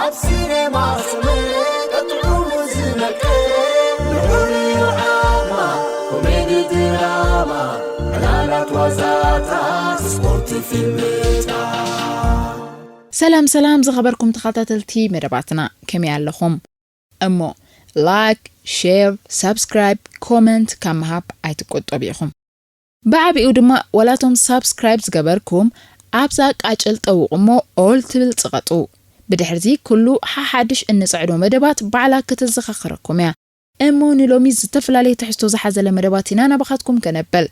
ኣብ ሲነማ ሰመረ ቀጥዑሙ ዝመቀረ ንዑንዩ ዓቕማ ኮሜዲ ድራማ ዕላላት ዋዛታት ስፖርት ፊልምታት ሰላም ሰላም ዝኸበርኩም ተኸታተልቲ መደባትና ከመይ ኣለኹም እሞ ላይክ ሼር ሳብስክራይብ ኮመንት ካብ ምሃብ ኣይትቆጠቡ ኢኹም ብዓቢኡ ድማ ዋላ እቶም ሳብስክራይብ ዝገበርኩም ኣብዛ ቃጭል ጠውቑ እሞ ኦል ትብል ጽቐጡ። ብድሕሪዚ ኩሉ ሓሓድሽ እንጽዕዶ መደባት ባዕላ ከተዘኻኽረኩም እያ። እሞ ንሎሚ ዝተፈላለየ ትሕዝቶ ዝሓዘለ መደባት ኢና ናባኻትኩም ከነብል።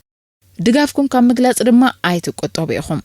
ድጋፍኩም ካብ ምግላጽ ድማ ኣይትቁጠቡ ኢኹም።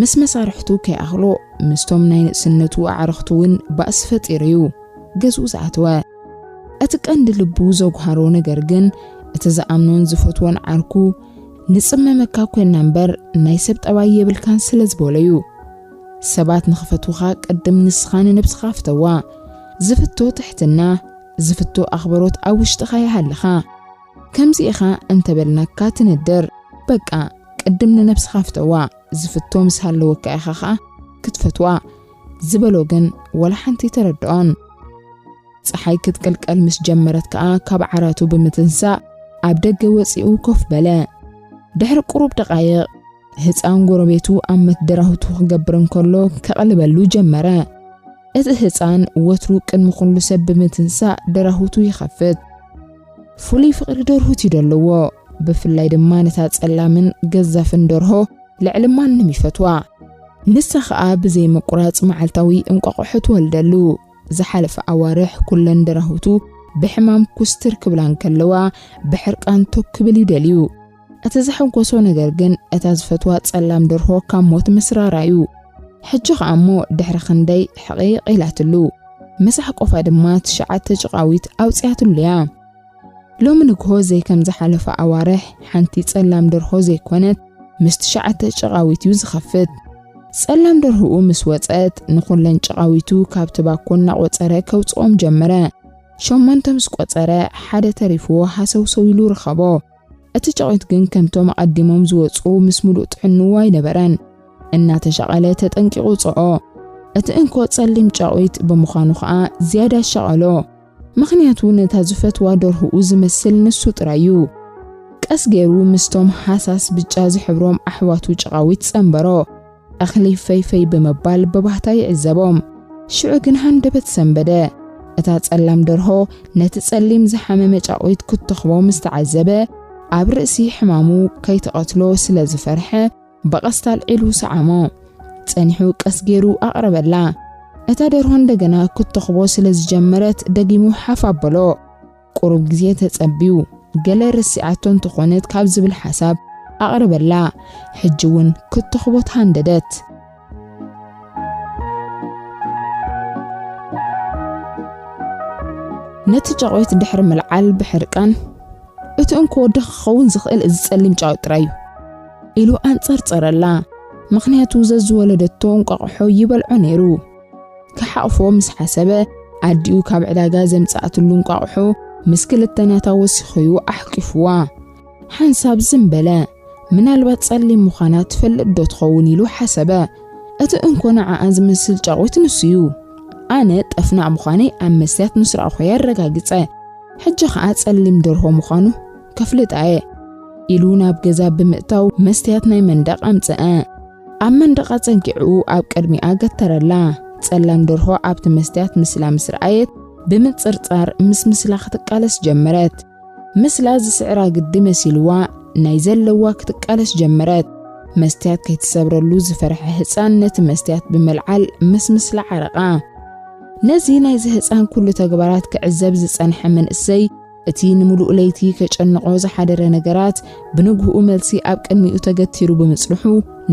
ምስ መሳርሕቱ ከይኣኽሎ ምስቶም ናይ ንእስነቱ ኣዕርኽቱ እውን ባእሲ ፈጢሩ እዩ ገዝኡ ዝኣተወ። እቲ ቀንዲ ልቡ ዘጉሃሮ ነገር ግን እቲ ዝኣምኖን ዝፈትዎን ዓርኩ ንጽመመካ ኮይና እምበር ናይ ሰብ ጠባይ የብልካን ስለ ዝበሎ እዩ። ሰባት ንኽፈትዉኻ ቅድም ንስኻ ንነብስኻ ፍተዋ። ዝፍቶ ትሕትና፣ ዝፍቶ ኣኽብሮት ኣብ ውሽጥኻ ይሃልኻ። ከምዚ ኢኻ እንተበልናካ ትነድር በቃ ቅድም ንነብስኻ ፍተዋ ዝፍቶ ምስ ሃለወካ ኢኻ ኸኣ ክትፈትዋ ዝበሎ ግን ወላ ሓንቲ ኣይተረድኦን። ጸሓይ ክትቅልቀል ምስ ጀመረት ከኣ ካብ ዓራቱ ብምትንሳእ ኣብ ደገ ወጺኡ ኮፍ በለ። ድሕሪ ቁሩብ ደቓይቕ ህጻን ጎረቤቱ ኣብ መትደራሁቱ ክገብር እንከሎ ከቕልበሉ ጀመረ። እቲ ህጻን ወትሩ ቅድሚ ኩሉ ሰብ ብምትንሳእ ደራሁቱ ይኸፍት። ፍሉይ ፍቕሪ ደርሁት እዩ ደለዎ። ብፍላይ ድማ ነታ ጸላምን ገዛፍን ደርሆ ልዕሊ ማንም ይፈትዋ። ንሳ ኸኣ ብዘይ ምቁራጽ መዓልታዊ እንቋቑሖ ትወልደሉ። ዝሓለፈ ኣዋርሕ ኩለን ደራሁቱ ብሕማም ኩስትር ክብላ እንከለዋ ብሕርቃን ቶክ ክብል እዩ ደልዩ። እቲ ዘሐጎሶ ነገር ግን እታ ዝፈትዋ ጸላም ደርሆ ካብ ሞት ምስራራ እዩ። ሕጂ ኸኣ እሞ ድሕሪ ክንደይ ሕቒቕ ኢላትሉ ምስ ኣሕቆፋ ድማ ትሽዓተ ጭቓዊት ኣውጺኣትሉ እያ። ሎሚ ንግሆ ዘይከም ዝሓለፋ ኣዋርሕ ሓንቲ ጸላም ደርሆ ዘይኮነት ምስ ትሽዓተ ጭቓዊት እዩ ዝኸፍት። ጸላም ደርሆኡ ምስ ወጸት ንኹለን ጭቓዊቱ ካብቲ ባኮ እናቖጸረ ከውጽኦም ጀመረ። ሸሞንተ ምስ ቆጸረ ሓደ ተሪፍዎ ሃሰውሰው ኢሉ ረኸቦ። እቲ ጫቚት ግን ከምቶም ኣቐዲሞም ዝወጽኡ ምስ ምሉእ ጥዕንኡ ኣይነበረን። እናተሻቐለ ተጠንቂቑ ወጽዖ። እቲ እንኮ ጸሊም ጫቚት ብምዃኑ ከኣ ዝያዳ ኣሻቐሎ። ምኽንያቱ ነታ ዝፈትዋ ደርሆኡ ዝመስል ንሱ ጥራይ'ዩ። ቀስ ገይሩ ምስቶም ሃሳስ ብጫ ዝሕብሮም ኣሕዋቱ ጨቓዊት ጸንበሮ። እኽሊ ፈይፈይ ብምባል ብባህታ ይዕዘቦም። ሽዑ ግን ሃንደበት ሰንበደ። እታ ጸላም ደርሆ ነቲ ጸሊም ዝሓመመ ጫቝት ክትትኽቦ ምስ ተዓዘበ፣ ኣብ ርእሲ ሕማሙ ከይትቐትሎ ስለ ዝፈርሐ ብቐስታ ኣልዒሉ ሰዓሞ። ጸኒሑ ቀስ ገይሩ ኣቕረበላ። እታ ደርሆ እንደገና ክትትኽቦ ስለ ዝጀመረት ደጊሙ ሓፍ ኣበሎ። ቁሩብ ግዜ ተጸብዩ ገለ ረሲዓቶ እንተኾነት ካብ ዝብል ሓሳብ ኣቕረበላ። ሕጂ ውን ክትተኽቦት ሃንደደት። ነቲ ጫቝት ድሕሪ ምልዓል ብሕርቃን፣ እቲ እንኮ ወዲ ክኸውን ዝኽእል እዚ ጸሊም ጫቝት ጥራይ እዩ። ኢሉ ኣንጸርጸረላ። ምኽንያቱ ዘዝወለደቶ እንቋቝሖ ይበልዖ ነይሩ። ክሓቕፎ ምስ ሓሰበ ኣዲኡ ካብ ዕዳጋ ዘምጽኣትሉ እንቋቑሖ ምስ ክልተ ናታ ወሲኹዩ ኣሕቂፍዋ ሓንሳብ ዝም በለ። ምናልባት ጸሊም ምዃና ትፈልጥ ዶ ትኸውን ኢሉ ሓሰበ። እቲ እንኮ ንዓኣ ዝመስል ጫቑት ንሱዩ። ኣነ ጠፍናቕ ምዃነይ ኣብ መስትያት ምስ ረኣኹዮ ኣረጋግጸ። ሕጂ ኸኣ ጸሊም ደርሆ ምዃኑ ከፍልጣየ ኢሉ ናብ ገዛ ብምእታው መስትያት ናይ መንደቕ ኣምጽኣ። ኣብ መንደቓ ጸጊዑ ኣብ ቅድሚኣ ገተረላ። ጸላም ደርሆ ኣብቲ መስትያት ምስላ ምስ ረኣየት ብምጽርጻር ምስ ምስላ ክትቃለስ ጀመረት። ምስላ ዝስዕራ ግዲ መሲልዋ ናይ ዘለዋ ክትቃለስ ጀመረት። መስትያት ከይትሰብረሉ ዝፈርሐ ህጻን ነቲ መስትያት ብምልዓል ምስ ምስላ ዓረቓ። ነዚ ናይዚ ህጻን ኩሉ ተግባራት ክዕዘብ ዝጸንሐ መንእሰይ እቲ ንምሉእ ለይቲ ከጨንቖ ዝሓደረ ነገራት ብንግህኡ መልሲ ኣብ ቅድሚኡ ተገቲሩ ብምጽንሑ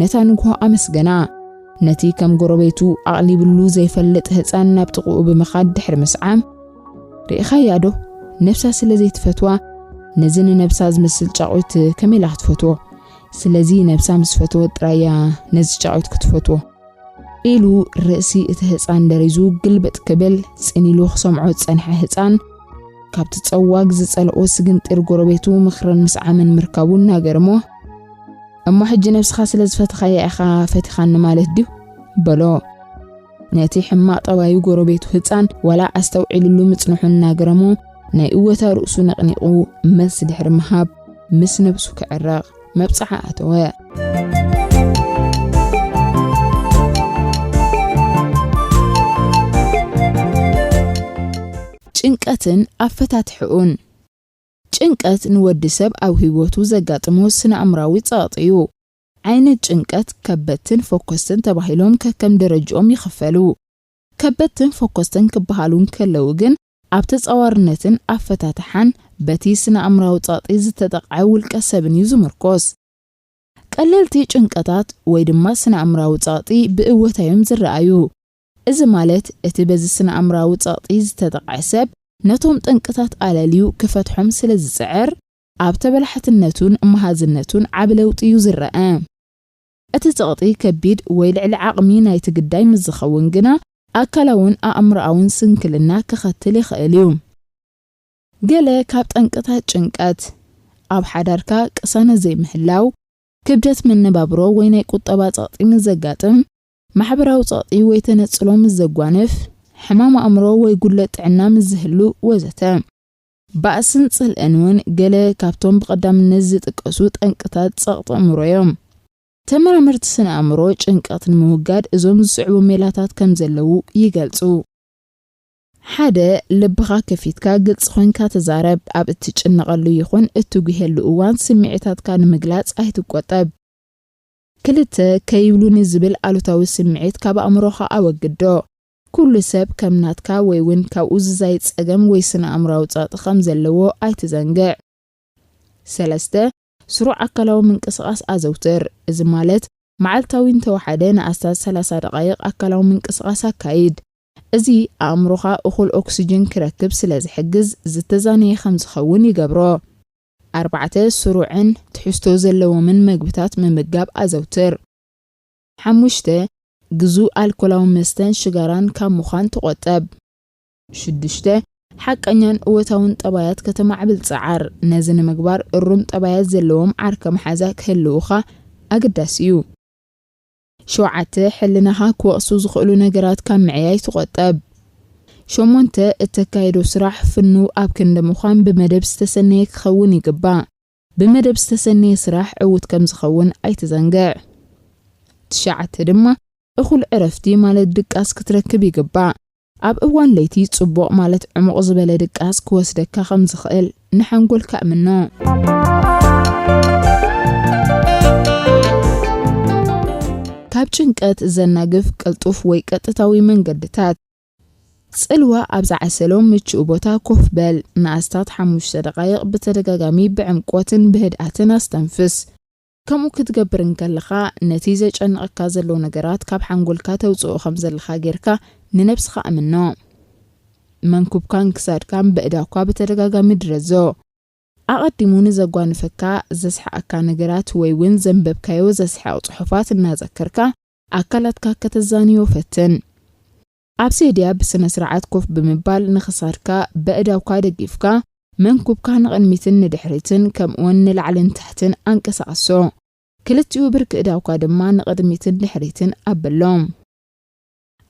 ነታ ንግሆ ኣመስገና። ነቲ ከም ጎረቤቱ ኣቕሊብሉ ዘይፈልጥ ህጻን ናብ ጥቕኡ ብምኻድ ድሕሪ ምስዓም ርኢኻያዶ ነብሳ ስለ ዘይትፈትዋ ነዚ ንነብሳ ዝመስል ጫቑት ከመይ ኢላ ክትፈትዎ ስለዚ ነብሳ ምስ ፈተወት ጥራይ እያ ነዚ ጫቑት ክትፈትዎ ኢሉ ርእሲ እቲ ህፃን ደሪዙ ግልብጥ ክብል ፅን ኢሉ ክሰምዖ ዝፀንሐ ህፃን ካብቲ ፀዋግ ዝፀልኦ ስግንጢር ጎረቤቱ ምኽርን ምስዓምን ምርካቡ እናገርሞ እሞ ሕጂ ነብስኻ ስለ ዝፈተኻያ ኢኻ ፈቲኻኒ ማለት ድዩ በሎ ነቲ ሕማቕ ጠባዩ ጎረቤቱ ህፃን ዋላ ኣስተውዒልሉ ምፅንሑ እናገረሞ ናይ እወታ ርእሱ ነቕኒቑ መልሲ ድሕሪ ምሃብ ምስ ነብሱ ክዕረቕ መብጽዓ ኣተወ። ጭንቀትን ኣፈታትሕኡን። ጭንቀት ንወዲ ሰብ ኣብ ህይወቱ ዘጋጥሞ ስነ-ኣእምራዊ ጸቕጢ እዩ። ዓይነት ጭንቀት ከበድትን ፎኮስትን ተባሂሎም ከከም ደረጅኦም ይኽፈሉ። ከበድትን ፈኮስትን ክበሃሉ እንከለዉ ግን፣ ኣብ ተጻዋርነትን ኣፈታትሓን በቲ ስነ-ኣእምራዊ ጸቕጢ ዝተጠቕዐ ውልቀ-ሰብን እዩ ዝምርኮስ። ቀለልቲ ጭንቀታት ወይ ድማ ስነ-ኣእምራዊ ጸቕጢ ብእወታ እዮም ዝረኣዩ። እዚ ማለት እቲ በዚ ስነ-ኣእምራዊ ጸቕጢ ዝተጠቕዐ ሰብ ነቶም ጠንቅታት ኣለልዩ ክፈትሖም ስለ ዝጽዕር፣ ኣብ ተበላሓትነቱን መሃዝነቱን ዓቢ ለውጢ እዩ ዝረኣ። እቲ ጸቕጢ ከቢድ ወይ ልዕሊ ዓቕሚ ናይቲ ግዳይ ምስ ዝኸውን ግና ኣካላውን ኣእምሮኣውን ስንክልና ከኸትል ይኽእል እዩ። ገለ ካብ ጠንቅታት ጭንቀት፣ ኣብ ሓዳርካ ቅሳነት ዘይምህላው፣ ክብደት መነባብሮ ወይ ናይ ቁጠባ ጸቕጢ ምስ ዘጋጥም፣ ማሕበራዊ ጸቕጢ ወይ ተነጽሎ ምስ ዘጓንፍ፣ ሕማም ኣእምሮ ወይ ጉድለት ጥዕና ምስ ዝህሉ ወዘተ። ባእስን ጽልእን እውን ገለ ካብቶም ብቐዳምነት ዝጥቀሱ ጠንቅታት ጸቕጢ ኣእምሮ እዮም። ተመራመርቲ ስነ-ኣእምሮ፣ ጭንቀት ንምውጋድ እዞም ዝስዕቡ ሜላታት ከም ዘለዉ ይገልጹ። ሓደ፣ ልብኻ ከፊትካ ግልጺ ኮይንካ ተዛረብ። ኣብ እትጭነቐሉ ይኹን እትጒሄሉ እዋን ስምዒታትካ ንምግላጽ ኣይትቈጠብ። ክልተ፣ ከይብሉኒ ዝብል ኣሉታዊ ስምዒት ካብ ኣእምሮኻ ኣወግዶ። ኩሉ ሰብ ከም ናትካ ወይ ውን ካብኡ ዝዛይድ ጸገም ወይ ስነ-ኣእምራዊ ጸቕጢ ከም ዘለዎ ኣይትዘንግዕ። ሰለስተ፣ ስሩዕ ኣካላዊ ምንቅስቓስ ኣዘውትር። እዚ ማለት መዓልታዊ እንተወሓደ ንኣስታት ሰላሳ ደቓይቕ ኣካላዊ ምንቅስቓስ ኣካይድ። እዚ ኣእምሮኻ እኹል ኦክስጅን ክረክብ ስለ ዝሕግዝ ዝተዛነየ ከም ዝኸውን ይገብሮ። ኣርባዕተ፣ ስሩዕን ትሕዝቶ ዘለዎምን መግብታት ምምጋብ ኣዘውትር። ሓሙሽተ፣ ግዙእ ኣልኮላዊ መስተን ሽጋራን ካብ ምዃን ተቖጠብ። ሽዱሽተ፣ ሓቀኛን እወታውን ጠባያት ከተማዕብል ጽዓር። ነዚ ንምግባር እሩም ጠባያት ዘለዎም ዓርከ መሓዛ ክህልዉኻ ኣገዳሲ እዩ። ሸውዓተ፣ ሕልናኻ ክወቕሱ ዝኽእሉ ነገራት ካብ ምዕያይ ተቖጠብ። ሸሞንተ፣ እተካይዶ ስራሕ ፍኑው ኣብ ክንዲ ምዃን ብመደብ ዝተሰነየ ክኸውን ይግባእ። ብመደብ ዝተሰነየ ስራሕ ዕዉት ከም ዝኸውን ኣይትዘንግዕ። ትሽዓተ ድማ እኹል ዕረፍቲ ማለት ድቃስ ክትረክብ ይግባእ። ኣብ እዋን ለይቲ ጽቡቕ ማለት ዕሙቕ ዝበለ ድቃስ ክወስደካ ከም ዝኽእል ንሓንጎልካ እምኖ። ካብ ጭንቀት ዘናግፍ ቅልጡፍ ወይ ቀጥታዊ መንገድታት። ጽልዋ ኣብ ዝዓሰሎ ምቹእ ቦታ ኮፍ በል። ንኣስታት ሓሙሽተ ደቓይቕ ብተደጋጋሚ ብዕምቈትን ብህድኣትን ኣስተንፍስ። ከምኡ ክትገብር እንከለኻ፣ ነቲ ዘጨንቐካ ዘሎ ነገራት ካብ ሓንጎልካ ተውጽኦ ከም ዘለኻ ጌርካ ንነብስኻ እምኖ። መንኵብካን ክሳድካን በእዳውካ ብተደጋጋሚ ድረዞ። ኣቐዲሙ ንዘጓንፈካ፣ ዘስሕቐካ ነገራት ወይ'ውን ዘንበብካዮ ዘስሕቕ ጽሑፋት እናዘከርካ ኣካላትካ ከተዛንዮ ፈትን። ኣብ ሴድያ ብስነ-ስርዓት ኮፍ ብምባል ንክሳድካ በእዳውካ ደጊፍካ መንኩብካ ንቕድሚትን ንድሕሪትን ከምኡውን ንላዕልን ታሕትን ኣንቀሳቕሶ። ክልቲኡ ብርኪ እዳውካ ድማ ንቕድሚትን ድሕሪትን ኣብሎም።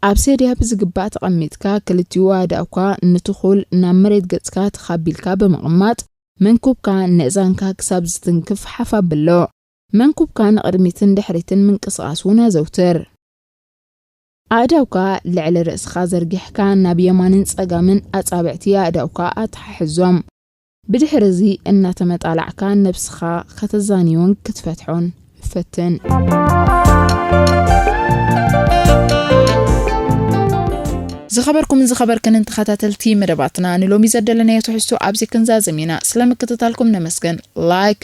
ኣብ ሴድያ ብዝግባእ ተቐሚጥካ ክልቲኡ ኣእዳውካ ንትኹል ናብ መሬት ገጽካ ትኽ ኣቢልካ ብምቕማጥ መንኩብካ ንእዛንካ ክሳብ ዝትንክፍ ሓፍ ኣብሎ። መንኩብካ ንቕድሚትን ድሕሪትን ምንቅስቓስ እውን ኣዘውትር። ኣእዳውካ ልዕሊ ርእስኻ ዘርጊሕካ ናብ የማንን ጸጋምን ኣጻብዕቲ ኣእዳውካ ኣተሓሕዞም። ብድሕሪ እዚ እናተመጣላዕካ ነብስኻ ከተዛንዮን ክትፈትሖን ፈትን። ዝኸበርኩምን ዝኸበርክንን ተኸታተልቲ መደባትና ንሎሚ ዘደለናዮ ትሕዝቶ ኣብዚ ክንዛዝም ኢና። ስለ ምክትታልኩም ነመስግን። Like፣